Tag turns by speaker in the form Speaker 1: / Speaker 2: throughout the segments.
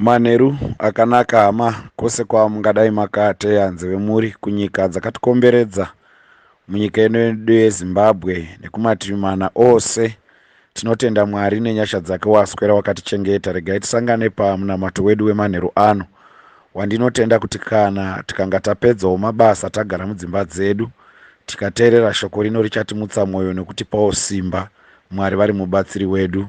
Speaker 1: Manheru akanaka hama kwose kwamungadai makateya nzeve muri kunyika dzakatikomberedza munyika ino yedu yezimbabwe nekumativi mana ose tinotenda mwari nenyasha dzake waswera wakatichengeta regai tisangane pamunamato wedu wemanheru ano wandinotenda kuti kana tikanga tapedzawo mabasa tagara mudzimba dzedu tikateerera shoko rino richatimutsa mwoyo nekutipawo simba mwari vari mubatsiri wedu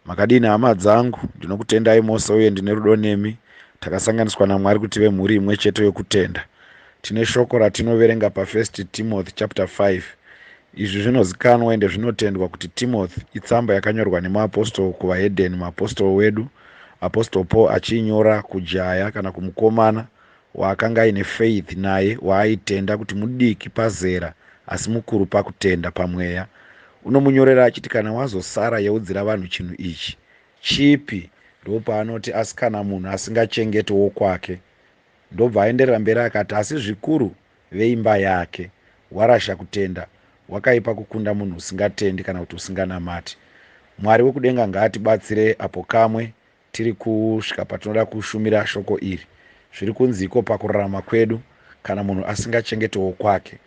Speaker 1: Makadini hama dzangu, ndinokutendai mose uye ndine rudo nemi. Takasanganiswa naMwari kuti tive mhuri imwe chete yokutenda. Tine shoko ratinoverenga paFirst Timothy chapter 5. Izvi zvinozikanwa ende zvinotendwa kuti Timothy itsamba yakanyorwa nemaapostle kuvahedeni, maapostle wedu, apostle Paul achiinyora kujaya kana kumukomana, waakanga aine faith naye waaitenda kuti mudiki pazera asi mukuru pakutenda pamweya unomunyorera achiti kana wazosara yeudzira vanhu chinhu ichi chipi ndopaanoti asi kana munhu asingachengeti wokwake ndobva aenderera mberi akati asi zvikuru veimba yake warasha kutenda wakaipa kukunda munhu usingatendi kana kuti usinganamati mwari wekudenga ngaatibatsire apo kamwe Tiri kusvika patinoda kushumira shoko iri. Zviri kunziiko pakurarama kwedu kana munhu asingachengete wokwake?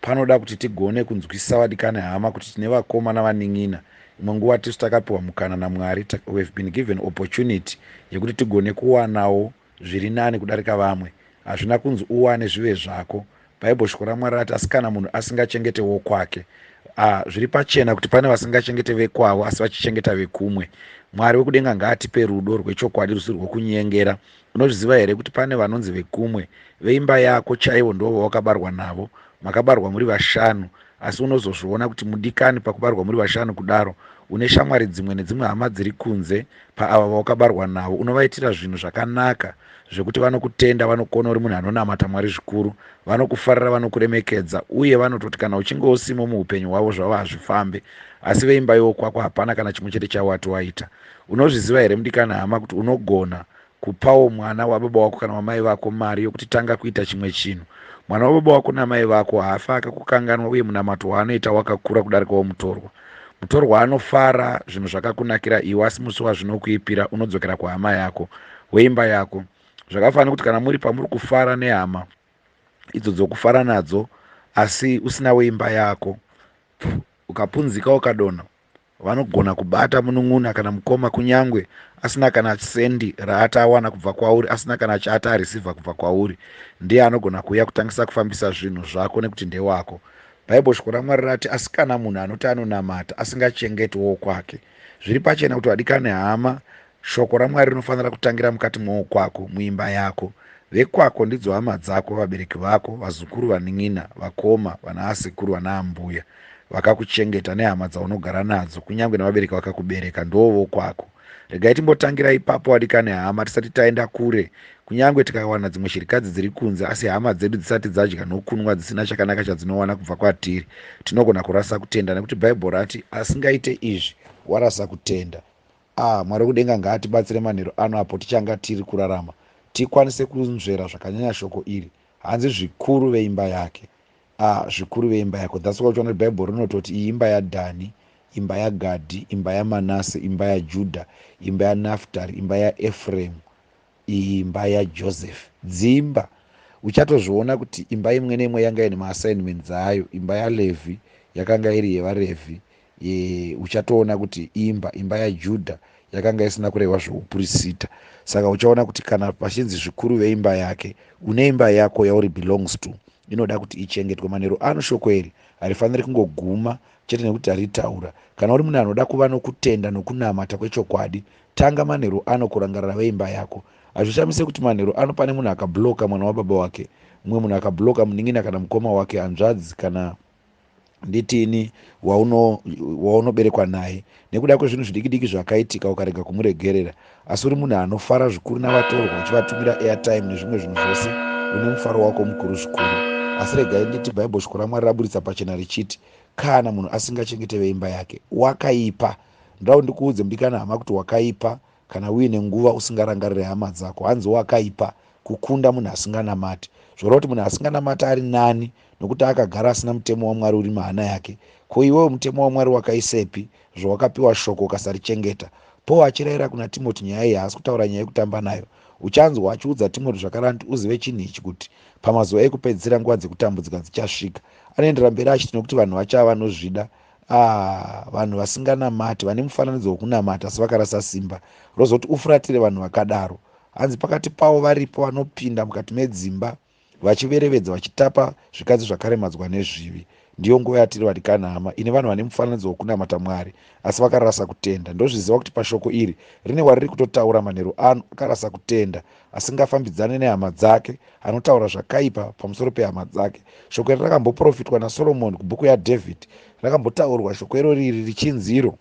Speaker 1: Panoda kuti tigone kunzwisisa vadikani hama kuti tine vakoma navanin'ina. Imwe nguva tisu takapiwa mukana naMwari, we've been given opportunity, yekuti tigone kuwanawo zviri nani kudarika vamwe hazvina kunzi uwane zvive zvako bible shoko ramwari rati asi kana munhu asingachengete wokwake ah, zviri pachena kuti pane vasingachengete vekwavo asi vachichengeta vekumwe mwari wekudenga ngaatipe rudo rwechokwadi rusi rwokunyengera unozviziva here kuti pane vanonzi vekumwe veimba yako chaivo ndoo vawakabarwa navo makabarwa muri vashanu asi unozozviona kuti mudikani pakubarwa muri vashanu kudaro une shamwari dzimwe nedzimwe hama dziri kunze paava vawakabarwa navo unovaitira zvinhu zvakanaka zvekuti vanokutenda vanokona uri munhu anonamata mwari zvikuru vanokufarira vanokuremekedza uye vanototi kana uchinge usimo muupenyu hwavo zvavo hazvifambe asi veimba yokwako hapana kana chimwe chete chawati waita unozviziva here mudikani hama kuti unogona Kupawo mwana wababa wako kana wamai vako mari yokuti tanga kuita chimwe chinhu. Mwana wababa wako namai vako haafe akakukanganwa uye munamato waanoita wakakura kudarika womutorwa. Mutorwa anofara zvinhu zvakakunakira iwe asi musi wazvinokuipira unodzokera kuhama yako, weimba yako. Zvakafanana nekuti kana muri pamuri kufara nehama idzo dzokufara nadzo asi usina weimba yako, ukapunzika ukadonha, vanogona kubata munun'una kana mukoma kunyangwe asina kana sendi raati awana kubva kwauri asina kana chaati arisivha kubva kwauri ndiye anogona kuuya kutangisa kufambisa zvinhu zvako nekuti ndewako bhaibho shoko ramwari rati asi kana munhu anoti anonamata asingachengeti wokwake zviri pachena kuti vadikani hama Shoko raMwari rinofanira kutangira mukati mwowo kwako, muimba yako. Vekwako ndidzo hama dzako, vabereki vako, vazukuru, vanin'ina, vakoma, vanaasekuru, vanaambuya, vakakuchengeta nehama dzaunogara nadzo, kunyange nevabereki vakakubereka, ndiwo vokwako. Regai timbotangira ipapo, vadikani hama, tisati taenda kure. Kunyange tikawana dzimwe shirikadzi dziri kunze, asi hama dzedu dzisati dzadya nokunwa dzisina chakanaka chadzinowana kubva kwatiri, tinogona kurasa kutenda, nekuti Bhaibheri rati, Asingaite izvi, warasa kutenda. Aah Mwari wekudenga ngaatibatsire manheru ano apo tichanga tiri kurarama tikwanise kunzvera zvakanyanya shoko iri hanzi zvikuru veimba yake aah zvikuru veimba yako that's why uchiona kuti bible rinototi iyi imba yaDhani imba yaGadhi imba yaManase imba yaJudha imba yaNaftari imba yaEfremu imba yajoseph dzimba uchatozviona kuti imba imwe neimwe yanga ine maassignment dzayo imba yalevhi yakanga iri yevarevhi e, uchatoona kuti imba imba yajudha yakanga isina kurehwa zveupurisita saka uchaona kuti kana pachinzi zvikuru veimba yake une imba yako yauri belongs to inoda kuti ichengetwe manero ano shoko iri harifaniri kungoguma chete nekuti taritaura kana uri munhu anoda kuva nokutenda nokunamata kwechokwadi Tanga manheru ano kurangarira veimba yako. Hazvishamise kuti manheru ano pane munhu akablocka mwana wababa wake, mumwe munhu akablocka munin'ina kana mukoma wake, hanzvadzi kana nditiini waunoberekwa wauno naye nekuda kwezvinhu zvidiki diki zvakaitika ukarega kumuregerera asi uri munhu anofara zvikuru navatorwa uchivatumira airtime nezvimwe zvinhu zvose une mufaro wako mukuru zvikuru asi regai nditi bhaibheri shoko ramwari raburitsa pachena richiti kana munhu asingachengete veimba yake wakaipa Ndoda ndikuudze mudikani hama kuti wakaipa kana uine nguva usingarangarire hama dzako. Hanzi wakaipa kukunda munhu asinganamati. Zvoreva kuti munhu asinganamati ari nani nokuti akagara asina mutemo waMwari uri muhana yake. Ko iwewe mutemo waMwari wakaisepi zvawakapiwa shoko ukasarichengeta? Paul achirayira kuna Timoti nyaya iyi haasi kutaura nyaya yekutamba nayo. Uchanzwa achiudza Timoti zvakaranti uzive chinhu ichi kuti pamazuva ekupedzisira nguva dzekutambudzika dzichasvika. Anoendera mberi achiti nokuti vanhu vachava vanozvida, Aah vanhu vasinganamati vane mufananidzo wekunamata asi vakarasa simba rozoti ufuratire vanhu vakadaro. Hanzi pakati pavo varipo vanopinda mukati medzimba vachiverevedza vachitapa zvikadzi zvakaremadzwa nezvivi. Ndiyo nguva yatiri vadikani hama ini vanhu vane mufananidzo wekunamata Mwari asi vakarasa kutenda. Ndozviziva kuti pashoko iri rine wariri kutotaura manheru ano akarasa kutenda asingafambidzane nehama dzake anotaura zvakaipa pamusoro pehama dzake shoko iri rakamboprofitwa nasoromoni kubhuku yadhavhidhi rakambotaurwa shoko iro riri richinzi iro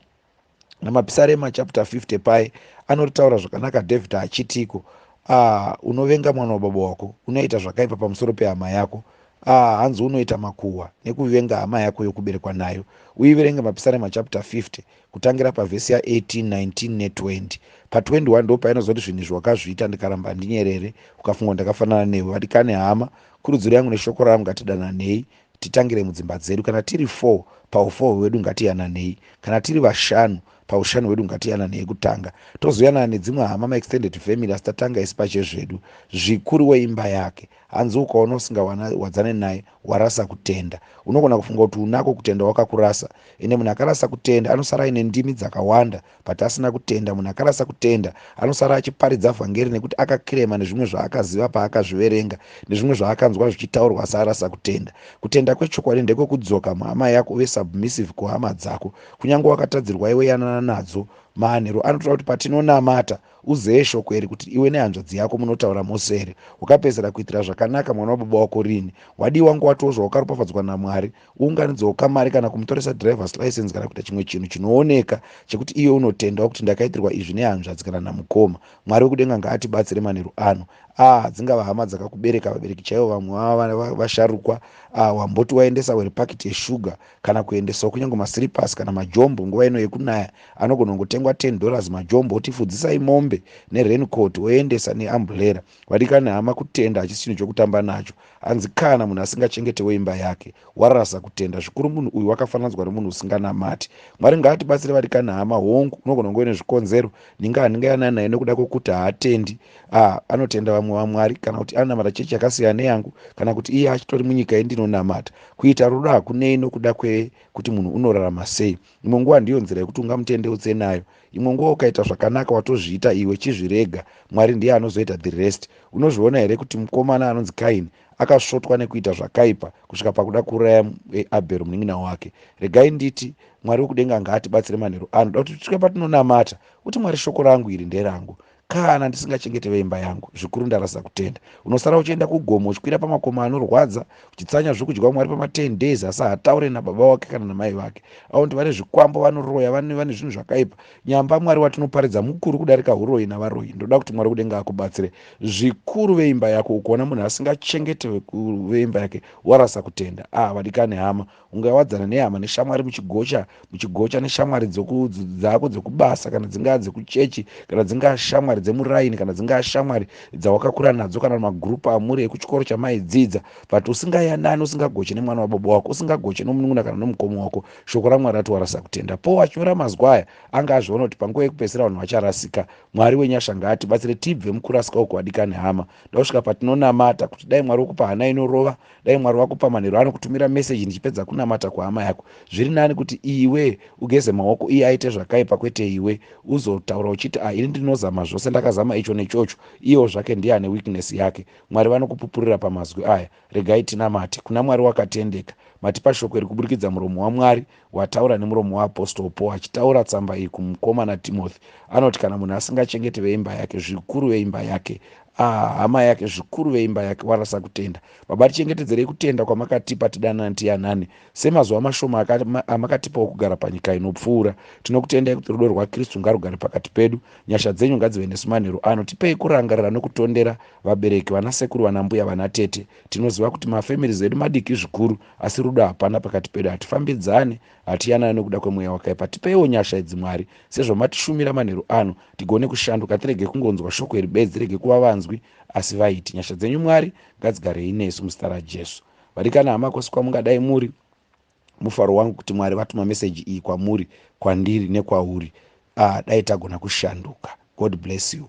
Speaker 1: namapisarema chapter 50 paye anoritaura zvakanaka dhavhidhi achitiko a ah, unovenga mwana wababa wako unoita zvakaipa pamusoro pehama yako a ah, hanzi unoita makuhwa nekuvenga hama yako yokuberekwa nayo uiverenge mapisarema chapter 50 kutangira pavhesi ya 18 19 ne 20 pa 21 ndo painozoti zvinhu izvi wakazviita ndikaramba handinyerere ukafungwa ndakafanana newe vadikani hama kurudziro yangu neshoko ravo ngatidananei titangire mudzimba dzedu kana tiri 4 paufoo hwedu ngatiyananei kana tiri vashanu paushanu hwedu ngatiyananei kutanga tozoyanana nedzimwe hama maextended family asi tatanga isi pachezvedu zvikuru weimba yake hanzi ukaona usingawana wadzane naye warasa kutenda unogona kufunga kuti unako kutenda wakakurasa ende munhu akarasa kutenda anosara aine ndimi dzakawanda but asina kutenda munhu akarasa kutenda anosara achiparidza vhangeri nekuti akakirema nezvimwe zvaakaziva paakazviverenga nezvimwe zvaakanzwa zvichitaurwa asi arasa kutenda kutenda kwechokwadi ndekwekudzoka muhama yako uve submissive kuhama dzako kunyange wakatadzirwa iwe yanana nadzo maanhero anotora kuti patinonamata Uzeye shoko iri kuti iwe nehanzvadzi yako munotaura mose here? Wakapedzera kuitira zvakanaka mwana wababa wako rini? Wadii wanga watiwo zvawakaropafadzwa naMwari? Uunganidzewo kamari kana kumutoresa driver's license kana kuita chimwe chinhu chinooneka chekuti iwe unotendawo kuti ndakaitirwa izvi nehanzvadzi kana namukoma. Mwari wekudenga ngaatibatsire manheru ano. Ah, dzingava hama dzakakubereka, vabereki chaivo vamwe vava vasharukwa. Ah, wamboti waendesa were pakiti yeshuga kana kuendesawo kunyange masiripasi kana majombo nguva ino yekunaya anogona kungotengwa 10 dollars majombo otifudzisai mombe nerencoat oendesa neambulera vadikani hama kutenda hachisi chinhu chokutamba nacho hanzi kana munhu asingachengetewo imba yake warasa kutenda zvikuru munhu uyu wakafananzwa nomunhu usinganamati mwari ngaatibatsire vadikani hama hongu unogona kunge une zvikonzero ninga handinga yana naye nokuda kwokuti haatendi a anotenda vamwe vamwari kana kuti anonamata chechi yakasiyana neyangu kana kuti iye achitori munyika yendinonamata Kuita rudo hakunei nokuda kwekuti munhu unorarama sei. Imwe nguva ndiyo nzira yekuti ungamutendeutse nayo. Imwe nguva ukaita zvakanaka watozviita iwe, chizvirega. Mwari ndiye anozoita the rest. Unozviona here kuti mukomana anonzi Kaini akasvotwa nekuita zvakaipa kusvika pakuda kuuraya eh, Abhero munin'ina wake? Regai nditi Mwari wekudenga ngaatibatsire manheru ano. Ndoda kuti tisvike patinonamata kuti Mwari shoko rangu iri nderangu. Kana ndisingachengete veimba yangu, zvikuru ndarasa kutenda. Unosara uchienda kugomo, uchikwira pamakomo anorwadza, uchitsanya zvokudya Mwari pama 10 days, asi haataure nababa wake kana namai vake. Avo ndivane zvikwambo, vanoroya, vane, vane zvinhu zvakaipa. Nyamba Mwari watinoparidza mukuru kudarika huroyi navaroyi. Ndoda kuti Mwari kudenga akubatsire. Zvikuru veimba yako, ukuona munhu asingachengete veimba yake, warasa kutenda. Ah, vadikani hama, ungawadzana nehama neshamwari muchigocha muchigocha neshamwari dzako dzekubasa kana dzingaa dzekuchechi kana dzingaa shamwari dzemuraini kana dzingaa shamwari dzawakakura nadzo kana magrupu amuri ekuchikoro chamaidzidza but usingayanani usingagoche nemwana wababa wako usingagoche nomunun'una kana nomukoma wako shoko ramwari rati warasa kutenda po wachinyora mazwa aya anga azviona kuti panguva yekupedzisira vanhu vacharasika mwari wenyasha ngaatibatsire tibve mukurasika uko wadikani hama ndakusvika patinonamata kuti dai mwari wokupa hana inorova dai mwari wakupa manhero ano kutumira meseji ndichipedza kunamata kuhama yako zviri nani kuti iwe ugeze maoko iye aite zvakaipa kwete iwe uzotaura uchiti a ah, ini ndinozama zvose ndakazama icho nechocho iyewo zvake ndiye ane weakness yake mwari vanokupupurira pamazwi aya regai tinamate kuna mwari wakatendeka matipa shoko iri kuburikidza muromo wamwari Wataura nemuromo waApostle Paul achitaura tsamba iyi kumukomana Timothy. Anoti kana munhu asingachengeti veimba yake, zvikuru veimba yake, ah, hama yake, zvikuru veimba yake, warasa kutenda. Baba, tichengetedzerei kutenda kwamakatipa tidanane tiyanane, semazuva mashoma amakatipawo kugara panyika inopfuura. Tinokutendai kuti rudo rwaKristu ngarugare pakati pedu. Nyasha dzenyu ngadzive nesu manheru ano. Tipei kurangarira nokutondera vabereki, vanasekuru, vanambuya, vanatete. Tinoziva kuti mafamilies edu madiki zvikuru. asi rudo hapana pakati pedu hatifambidzane hatiyanane nokuda kwemweya wakaipa tipeiwo nyasha idzi mwari sezvamatishumira manheru ano tigone kushanduka tirege kungonzwa shoko iri bedzi rege kuva vanzwi asi vaiti nyasha dzenyu mwari ngadzigarei nesu muzita rajesu vadikana hama kwose kwamungadai muri mufaro wangu kuti mwari vatuma meseji iyi kwamuri kwandiri nekwauri ah, dai tagona kushanduka god bless you